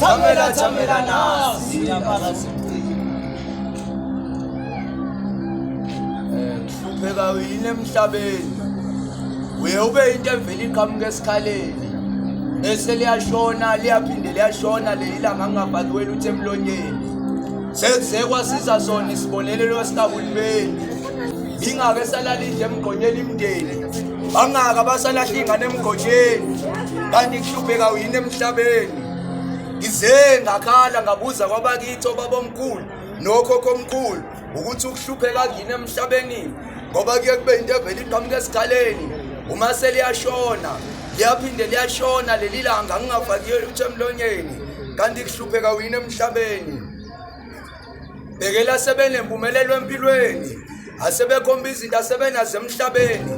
Thamela thamela nasi siyabala siqhubile. Hlupheka yini emhlabeni? Uye ube into evele iqhamuka esikhaleni. Ese liyashona liyaphinde liyashona leli langa ngingabhaliwela uthi emlonyeni. Sekuzekwa siza sona isibonelelo esitahulumeni. ingabe salalidla emgqonyeni imndeni bangaka basalahla ingane emgotsheni kanti kuhlupheka uyini emhlabeni ngize ngakhala ngabuza kwabakithi obabomkhulu nokhokho omkhulu ukuthi ukuhlupheka kuyini emhlabeni ngoba kuye kube into evela iqhamuka esikhaleni uma seliyashona liyaphinde liyashona leli langa ngingafakiyo lutho emlonyeni kanti kuhlupheka uyini emhlabeni bhekela sebenempumelelo empilweni asebekhomba izinto asebenazo emhlabeni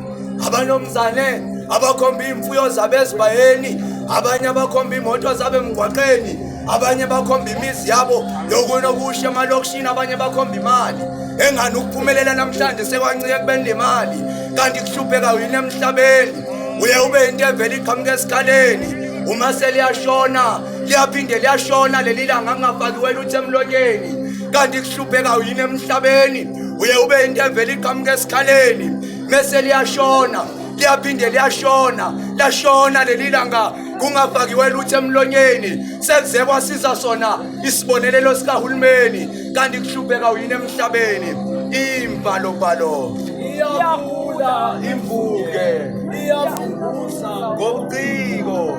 abanomzane abakhomba iy'mfuyo zabo ezibayeni abanye abakhomba iy'moto zabo emgwaqeni abanye bakhomba imizi yabo yokunokusha emalokishini abanye bakhomba imali engani ukuphumelela namhlanje sekwancike kubeni nemali kanti kuhlupheka yini emhlabeni uye ube yinto evele iqhamuka esikhaleni uma seliyashona liyaphinde liyashona leli langa kungafaki wena uthi emlonyeni kanti kuhlupheka uyini emhlabeni uye ube into evele iqhamuka esikhaleni mese liyashona liyaphinde liyashona lashona leli langa kungafakiwe lutho emlonyeni sekuze kwasiza sona isibonelelo sikahulumeni kanti kuhlupheka uyini emhlabeni imbalobalo iyagula imvuke iyavukuza ngobuciko